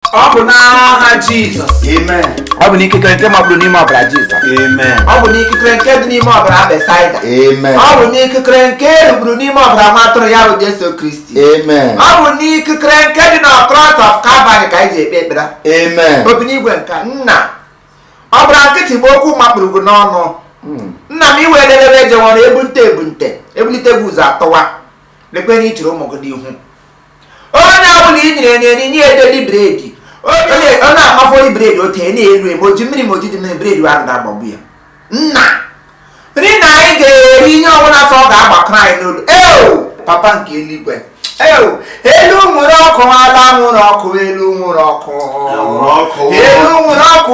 ọ bụ n'aha jizọs Amen. ọ bụ n'ikikere nke mapụrụ n'ime ọbara jizọs Amen. ọ bụ n'ikikere nke dị n'ime ọbara besaida Amen. ọ bụ n'ikikere nke erupụrụ n'ime ọbara nwa atụrụ ya bụ jesu kristi Amen. ọ bụ n'ikikere nke dị na cross of calvary ka anyị ji ekpe ekpere Amen. obi n'igwe nke nna ọ bụrụ nkịtị bụ okwu makpụrụ gị n'ọnụ Mm. nna m iwe lelebe ejewọrọ ebunte ebunte ebulite gị ụzọ atọwa lekwe na i chiri ụmụ gị n'ihu onye ọbụla i nyere nri nye ya daily bread ọ na-amafori bredi otu enye elu ebe o ji mmiri ma o jidị mmiri bredi ahụ na-agbagbu ya nna nri na anyị ga-eri ihe ọbụla sọ ọ ga-agbakọrọ anyị n'olu eo papa nke eluigwe eo elu nwere ọkụ ala nwere ọkụ elu nwere ọkụ Nwere ọkụ. elu nwere ọkụ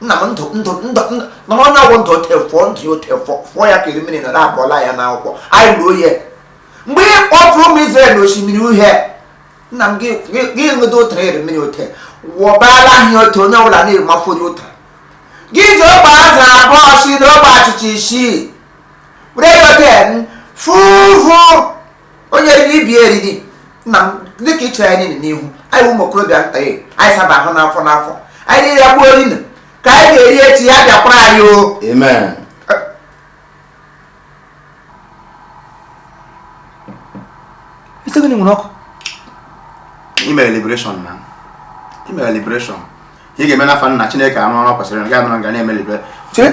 nna m ndụ ndụ ndụ na onye ọgwụ ndụ ote fụọ ndụ ya ote fụọ ya ka iri mmiri nọrọ abụọla ya n'akwụkwọ anyị ruo ya mgbe ị kpọpụrụ ụmụ Izrel n'osimiri uhie nna m gị ṅụdo ụtara iri mmiri ote wụbala ahịa otu onye ọbụla na-emafụ onye ụtara gị ji ogbe azụ abụọ si na ogbe achịcha isii were yote fuvu onye eriri ibi eriri nna m dịka i chere anyị niile n'ihu anyị ụmụ okorobịa nta ya anyị saba ahụ n'afọ n'afọ anyị niile ya gbuo rinu ka anyị ga-eri echi ya bịakwara anyị o amen isi gịnị nwere ọkụ ime liberation na ime liberation ihe ga-eme n'afọ nna chineke arụ ọrụ kwesịrị na ga-anọrọ nga na-eme liberation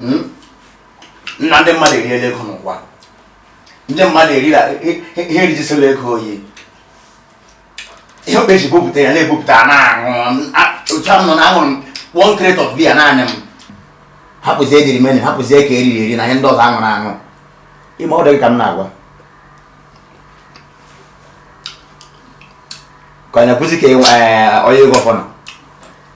hmm? nna ndị mmadụ eriela ego n'ụwa ndị mmadụ erila ihe rijisịla ego oyi ihe okpe ji bupụta ya na-ebupụta na-aṅụ otu ahụ nọ na aṅụrụ m one crate of beer naanị m hapụzie dịrị menu hapụzie ka eriri eri na ihe ndị ọzọ aṅụrụ aṅụ ime ọ dịghị ka m na-agwa ka ọ na-ekwuzi ka ịnwe onye ego fọnụ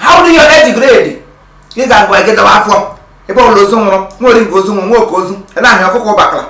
how do you age grade ị ga-agụ egedaba afọ ebe ọbụla ozu nwụrụ nwa oringo ozu nwụrụ nwoke ozu ebe ahụ ọkụkọ bakara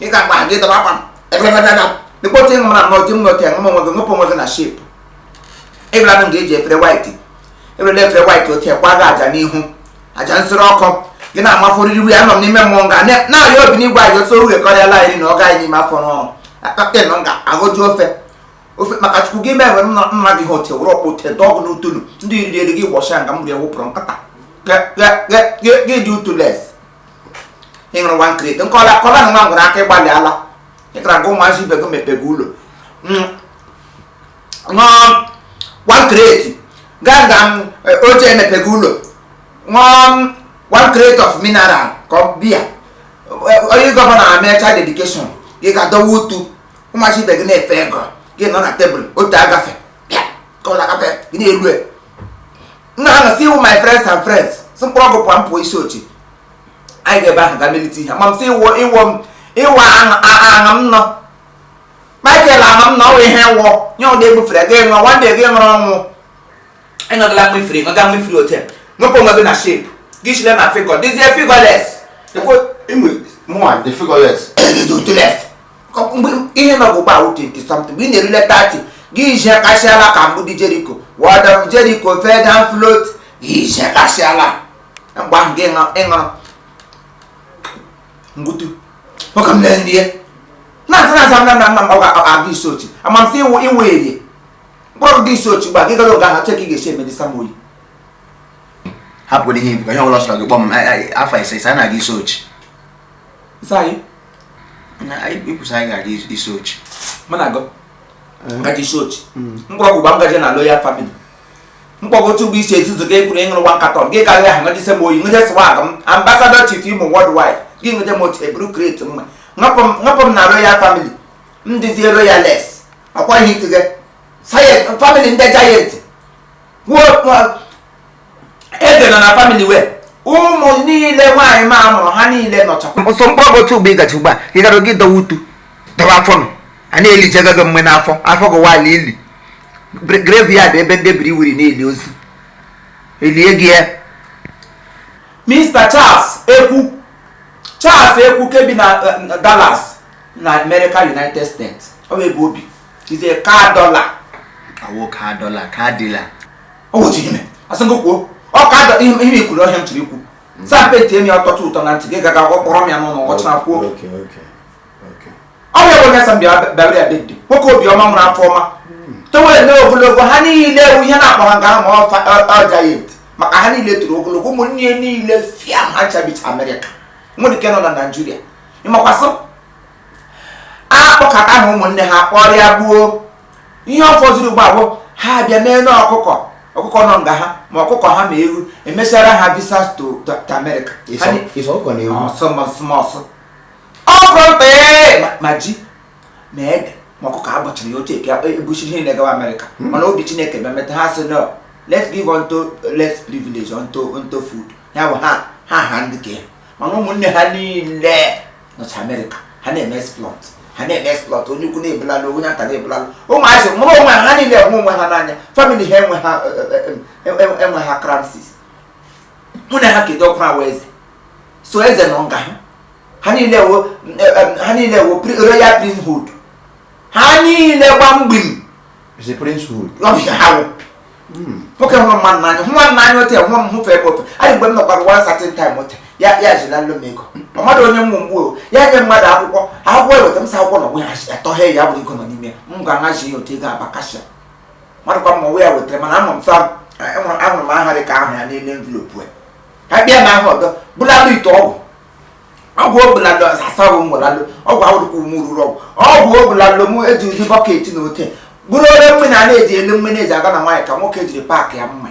ị ga-agba ha gedaba akwa ebebebebebe dịkpọta ịṅụ na nnọọ ji m nọke ṅụm onwe gị ṅụpụ onwe gị na shape ịbịara m ga-eji efere white ebere efere white otu gwa gị aja n'ihu aja nsịrị ọkụ gị na-amafụ oriri wee anọ m n'ime mmụọ nga na-arịọ obi n'igwe anyị otu oge kọrịala anyị na ọ gaghị n'ime afọ n'ọrụ akpakpịa nọ nga aghọju ofe ofe maka chukwu gị mee nwere nna nna gị ha ote were ọkpụ te dọgụ n'utulu ndị riri eri gị gbọchịa nga m rie wụpụrụ nkata gị dị utules ị ṅụrụ one crate nkọla kọla na nwa nwere aka ịgbalị ala ị gara gụ ụmụazị ibe gị mepe gị ụlọ ṅụọ one crate gaa nga m oche emepe gị ụlọ ṅụọ one crate of mineral ka ọ bịa onye gọvanọ amecha dedication ị ga-adọwa utu ụmụazị ibe gị na-efe ego gị nọ na table otu agafe ka ọ na-agafe gị na-elu e. nna ha nọsi iwu my friends and friends si mkpụrụ ọgwụ pụọ mpụ Isuochi anyị ga-ebe ahụ ga melite ihe ma m si iwọ iwọ m iwọ aṅa m nọ Michael aṅa m nọ ọwụ ihe wọ nye ụdị egbufere gị ṅụọ nwanne gị ṅụrụ ọnwụ ịnọgala mmefiri ṅụga mmefiri until ṅụpụ onwe gị na shape gị chile na figure dịzie figureless mụa dị figureless ihe nọ bụ gbaa twenty something mgbe ị na-erule thirty gị ije kasịala ka mgbidi Jericho wall of Jericho fell down flat ije kasịala mgbe ahụ gị ịṅụrụ mgbutu nwoke m na-enye ya na-asa na asa na nna nna m ọ ga-aga Isuochi ama m sị iwu iwu erie mkpọrọgwụ Isuochi gba gị gara oge ahụ cheka ị ga-esi emedi samoyi hapụrụ ihe ibu ka ihe ọbụla sọrọ gị kpọọ m afọ ise ise a na-aga Isuochi isi anyị ikwusa anyị ga-aga Isuochi mụ na gị gaji eh. Isuochi hmm. mkpọrọgwụ gba ngaji na loyal family mkpọrọ otu bụ isi ezuzu ka ekwuru ịṅụrụ nwa nkatọ gị karịrị ahụ ngajise m oyi ngụnye swag m ambassador chief Imo worldwide gị ngụnye m otu eburu crate mma ngapụ m na royal family m dịzie royalless ọkwa ihe itige family ndị giant kwuo eze nọ na family wee ụmụ niile nwaanyị ma mụrụ ha niile nọcha ọsọ mkpọrọgwụ otu ugbo ị gachi ugbu a ị gara gị dọwa utu dọwa afọ nọ a na-eli jega gị mgbe n'afọ afọ gị waala ili graveyard ebe ndị biri wiri na-eli ozu elie gị ya Mr. Charles Ekwu Charles Ekwu ke bi na eh, Dallas na America United States ọ bụ ebe o bi is a car dollar awo car dollar car dealer o nwere ihe mere asị gị kwuo ọ ka ada ihe ihe i kwuru ọhịa m chiri ikwu saa penti emi ọtọtụ ụtọ na ntị gị gaga ọ kpọrọ m ya n'ụlọ ọ chara kwuo Okay, okay, okay. ọ bụ ebe onye sa mbịa bịara ya bedị nwoke obiọma nwere afọ ọma towere na ogologo ha niile ọ wụ ihe na-akpọ ha nga ha ma ọ fa- ọ- ọ giant maka ha niile toro ogologo ụmụnne ya niile fia ha cha bicha America nwedịghị nke nọ na Nigeria ịmakwasị akpọkọta ha ụmụnne ha kpọrịa gbuo ihe ọ fọziri ugbu a bụ ha abịa mee na ọkụkọ ọkụkọ nọ nga ha ma ọkụkọ ha ma ewu e mesara ha visas to to- to America Ha Ịsọ ni- ịsọ ọkụkọ na ewu. ọsọ ma ọsọ ma ọsọ ọkụkọ mkpee ma- ma ji ma ede ma ọkụkọ a gbachara ya otu eke ebuchi ihe na-egawa America mana obi Chineke bịa meta ha sị no let's give unto less privilege unto unto food ya bụ ha ha ha ndị ka ya mana ụmụnne ha niile nọcha america ha na-eme exploit ha na-eme exploit onye ukwu na-ebulalụ onye nta na-ebulalụ ụmụazị mụrụ onwe ha niile enwe onwe ha n'anya family ha enwe ha e, e, e, enwe ha crisis mụ na ha kedu ọkụ awa eze so eze nọ nga ha ha niile wo ha niile wo royal princehood ha niile gba mgbim Is a princehood. Ọ bụ ihe ha wụ. Nwoke hụrụ mmadụ n'anya, hụ nwanne n'anya otu ya, hụ m hụfe ebe otu. Anyị mgbe m nọkwara one certain time otu, ya ya jila nlo m ego. Ma mmadụ onye mmụ mgbu o, ya nye mmadụ akwụkwọ, akwụkwọ eweta m sa akwụkwọ na onwe ya achị- atọghee ya bụrụ ego nọ n'ime ya. M ga-ahazi ya otu ego aba kashia. Mmadụ kwa mma onwe ya wetara mana ama m fa enwere ahụrụ m aha dị ka ahụ ya n'elu envelope ya. Ka bịa na ahụ ọdọ, bụlalụ ite ọgwụ, ọgwụ obulalụ asasawụ mgbalalụ ọgwụ awụrụkwa ume ruru ọgwụ ọgwụ obulalụ m eji ụdị bucket na ote bụrụ ore mmiri a na-eji elu mmiri eji aga na nwaanyị ka nwoke jiri paakị ya mma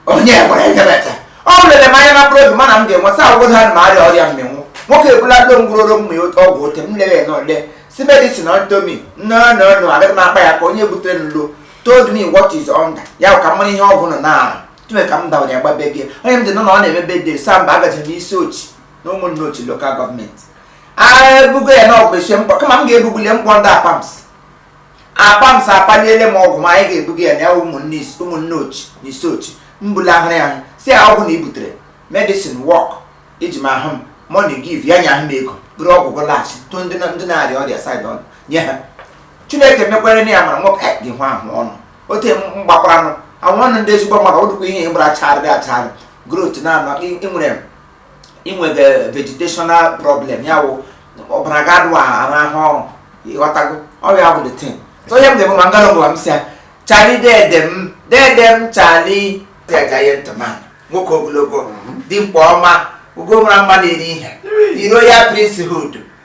onye gwara enyebeta o lere m anya na mkpụrụ obi mana m ga-enwe sa agwụgwọ ha ma arịa ọrịa mmịnwụ nwoke ebulalụ mgbụrụ oro mma ọgwụ ote m lere na ole si medicine unto me no no no agaghị m akpa ya ka onye butere nlo told me what is under ya ka m mara ihe ọgwụ nọ na-arụ tuwe ka m dawanye gbabe gị onye m dị nọ na ọ na-eme birthday sa mba agaje m isuochi na ụmụnneochi local government a ga-ebugo ya na ọgwụ esie mkpọ kama m ga-ebugbuli mkpọ ndị apams apams apaliele m ọgwụ ma anyị ga-ebuga ya na ya ụmụnne ụmụnneochi na isuochi m bula ahụrụ ya ahụ si ya ọgwụ na i butere medicine work iji ma ahụ m money give ya nye ahụ m ego bụrụ ọgwụ gụ laghachi tụ ndị na- ndị na-arịa ọrịa side ọnụ nye ha chineke mekwere na ya mara nwoke eh, gị hụ ahụ ọnụ ote mgbakwaranụ ahụ ọnụ ndị ezigbo mmadụ ọ dịkwa ihe gbara charị dị acharị growth na-anọ ịnwere inwega vegetational problem ya wụ ọbara ga-adụ arụ ahụ ọrụ ịghọtago ọrịa bụ the thing so ihe m dị bụ ma m gara ngwa m si ya charlie dede m dede m charlie giant man nwoke ogologo dimkpa ọma ugo mara mma na-eri ihe the royal priesthood